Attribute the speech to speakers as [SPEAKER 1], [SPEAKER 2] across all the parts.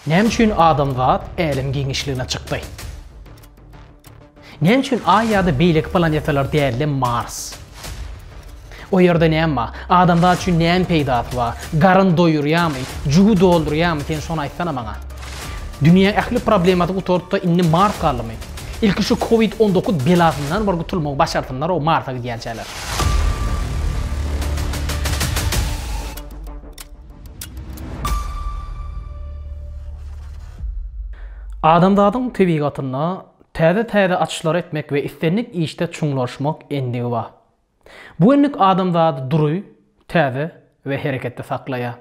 [SPEAKER 1] Näme üçin adamzat älem giňişligine çykdy? Näme üçin Aý ýa-da beýleki planetalar däl-de Mars? O ýerde näme bar? Adamzat üçin näme peýdasy bar? Garyn doýurýarmy? Jübi doldurýarmy? Sen şony aýtsana maňa. Dünýä ähli problemasy gutaryp-da indi Mars galdymy? Ilki şu covid on dokuz belasyndan bir gutulmagy başarsynlar o Marsa gidýänçäler. Adamzadyň tebigatynda täze-täze açyşlary etmek we islendik işde çuňlaşmak endigi bar. Bu endik adamzady dury, täze we hereketde saklaýar.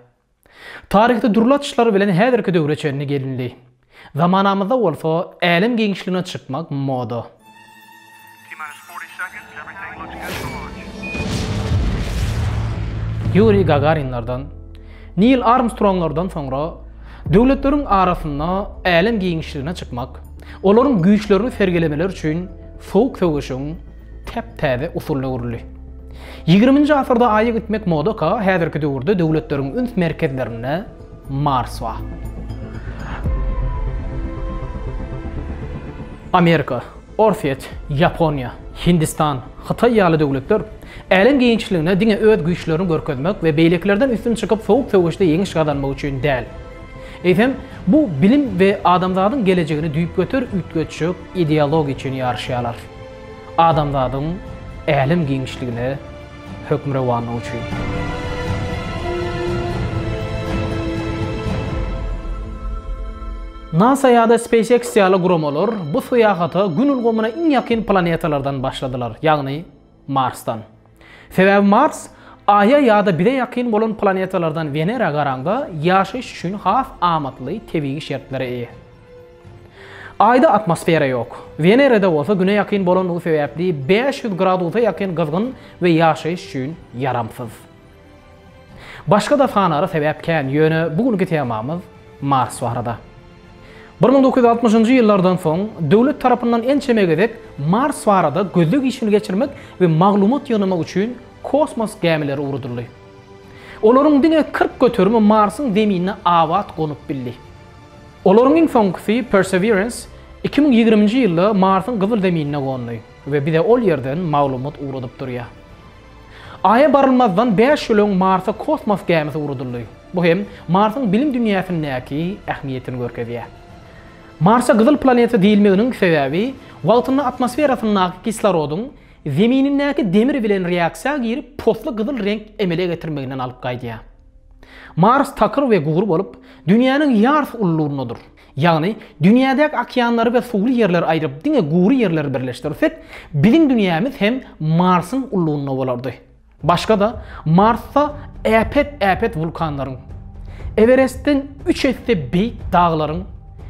[SPEAKER 1] Taryhda dürli açyşlar bilen häzirki döwre çenli gelindi. Zamanamyzda bolsa älem giňişligine çykmak moda. Ýuriý Gagarinlerden, Nil Armstronglardan soňra döwletleriň arasynda älem giňişligine çykmak, olaryň güýçlerini sergilemeleri üçin sowuk söweşiň, täp-täze usulda guruldy. Ýigriminji asyrda Aýa gitmek modaka, häzirki döwürde döwletleriň üns merkezlerinde Mars bar. Amerika, Orsýet, Ýaponiýa, Hindistan, Hytaý ýaly döwletler älem giňişligine diňe öz güýçlerini görkezmek we beýlekilerden üstün çykyp sowuk söweşde ýeňiş gazanmak üçin däl, eýsem, bu bilim we adamzadyň gelejegini düýpgöter üýtgetjek ideologiýa üçin ýaryşýarlar. Adamzadyň älem giňişligine hökmürowanlygy üçin. NASA ýa-da SpaceX ýaly guramalar bu syýahata Gün ulgamyna iň ýakyn planetalardan başladylar, ýagny Marsdan. Sebäbi Mars Aýa ýa-da bize ýakyn bolan planetalardan Wenera garaňda ýaşaýyş üçin has amatly tebigy şertlere eýe. Aýda atmosfera ýok. Wenerada bolsa Güne ýakyn bolandygy sebäpli bäş ýüz gradusa ýakyn gyzgyn we ýaşaýyş üçin ýaramsyz. Başga da sanara sebäp kän, ýöne bu günki temamyz Mars barada. Bir müň dokuz ýüz altmyşynjy ýyllardan soň döwlet tarapyndan ençeme gezek Mars barada gözleg işini geçirmek we maglumat ýygnamak üçin kosmos gämileri ugradyldy. Olaryň diňe kyrk göterimi Marsyň Zeminine abat gonup bildi. Olaryň iň soňkusy Perseverance iki müň ýigriminji ýylda Marsyň gyzyl zeminine gondy we bize ol ýerden maglumat ugradyp durýar. Aýa barylmazdan bäş ýyl öň Marsa kosmos gämisi ugradyldy. Bu hem Marsyň bilim dünýäsindäki ähmiýetini görkezýär. Marsa gyzyl planeta diýilmeginiň sebäbi wagtynda atmosferasyndaky kislorodyň Zeminindäki demir bilen reaksiýa girip posly gyzyl reňk emele getirmeginden alyp gaýdýar. Mars takyr we gury bolup, Dünýäniň ýarysy ululygyndadyr. Ýagny, dünýädäki okeanlary we suwly ýerleri aýryp, diňe gury ýerleri birleşdirsek, biziň dünýämiz hem Marsyň ullugynda bolardy. Başga-da, Marsda äpet-äpet wulkanlaryň, Ewerestden üç esse beýik daglaryň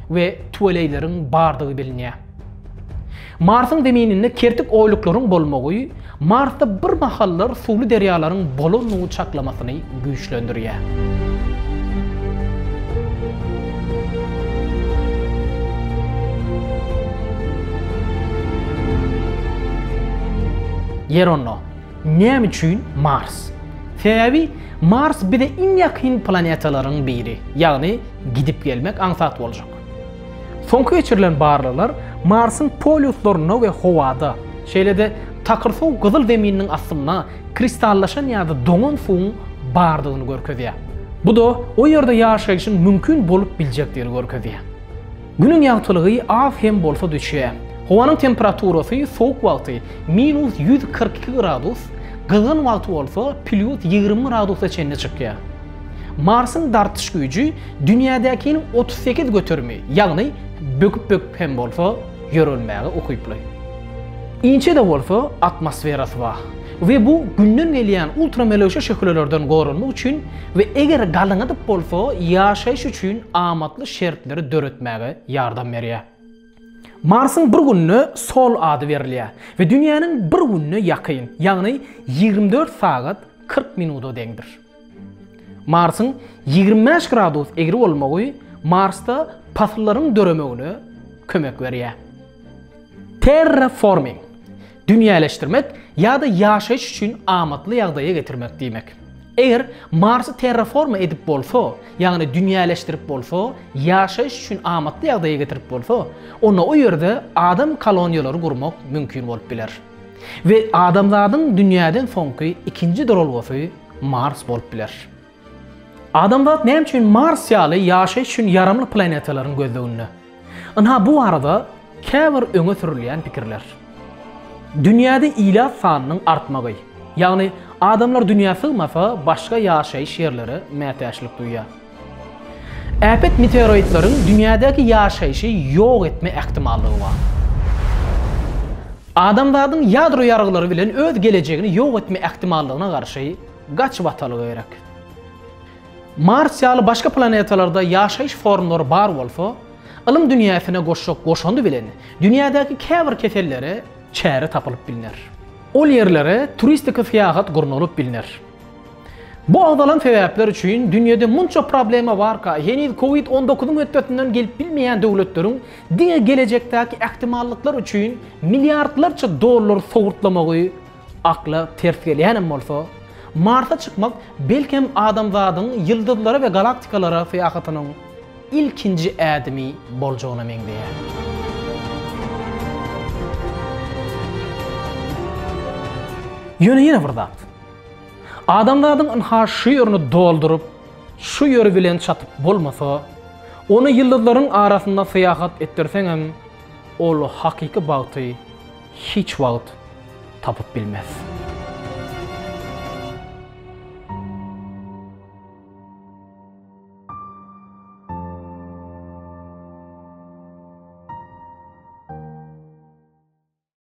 [SPEAKER 1] we tüweleýleriň bardygy bilinýär. Marsyň zemininde kertik oýluklaryň bolmagy Marsda bir mahallar suwly derýalaryň bolandygy çaklamasyny güýçlendirýär. Ýeronno, näme üçin Mars? Sebäbi Mars bize iň ýakyn planetalaryň biri, ýagny gidip gelmek aňsat boljak. Soňky geçirilen barlaglar Marsyň polýuslarynda we howada, şeýle-de takyr suw gyzyl zemininiň astynda kristallaşan ýa-da doňan suwuň bardygyny görkezýär. Bu-da o ýerde ýaşaýşyň mümkin bolup biljekdigini görkezýär. Günüň ýagtylygy az hem bolsa düşýär. Howanyň temperaturasy sowuk wagty minus ýüz kyrk iki gradus, gyzgyn wagty bolsa plýus ýigrimi gradusa çenli çykýar. Marsyň dartyş güýji Dünýädäkiniň otuz sekiz göterimi, ýagny böküp-böküp hem bolsa ýörelmäge ukyply. Inçe-de bolsa atmosferasy bar we bu Günden gelýän ultramelewşe şöhlelerden goranmak üçin we eger galyňadyp bolsa ýaşaýyş üçin amatly şertleri döretmäge ýardam berýär. Marsyň bir gününe Sol ady berilýär we Dünýäniň bir gününe ýakyn, ýagny ýigrimi dört sagat kyrk minuda deňdir. Marsyň ýigrimi bäş gradus egri bolmagy Marsda pasyllaryň döremegine kömek berýär. Terraforming, dünýäleşdirmek ýa-da ýaşaýyş üçin amatly ýagdaýa getirmek diýmek. Eger Marsy terraforma edip bolsa, ýagny dünýäleşdirip bolsa, ýaşaýyş üçin amatly ýagdaýa getirip bolsa, onda o ýerde adam koloniýalary gurmak mümkin bolup biler. We adamzadyň dünýäden soňky ikinji duralgasy Mars bolup biler. Adamzat näme üçin Mars ýaly ýaşaýyş üçin ýaramly planetalaryň gözleginde? Ynha bu barada käbir öňe sürülýän pikirler. Dünýäde ilat sanynyň artmagy, ýagny adamlar dünýä sygmasa, başga ýaşaýyş ýerlere mätäçlik duýýar. Äpet meteoroidleriň dünýädäki ýaşaýşy ýok etme ähtimallygy bar. Adamzadyň ýadro ýargylary bilen öz gelejegini ýok etme ähtimallygyna garşy gaçyp atalygy gerek. Mars ýaly başga planetalarda ýaşaýyş formlary bar bolsa, ylym dünýäsine goşjak goşandy bilen dünýädäki käbir kesellere çäre tapylyp bilner. Ol ýerlere turistik syýahat gurnalyp bilner. Bu agzalan sebäpler üçin dünýede munça problema barka, heniz covid on dokuzyň hötdesinden gelip bilmeýän döwletleriň diňe gelejekdäki ähtimallyklar üçin milliardlarça dollar sowurtlamagy akla ters gelýänem bolsa, Marsa çykmak belkem adamzadyň ýyldyzlara we galaktikalara syýahatynyň ilkinji ädimi boljagyna meňzeýär. Ýöne ýene bir zat. Adamzadyň ynha şu ýerini dolduryp, şu ýeri bilen çatyp bolmasa, ony ýyldyzlaryň arasynda syýahat etdirseňem, ol hakyky bagty hiç wagt tapyp bilmez.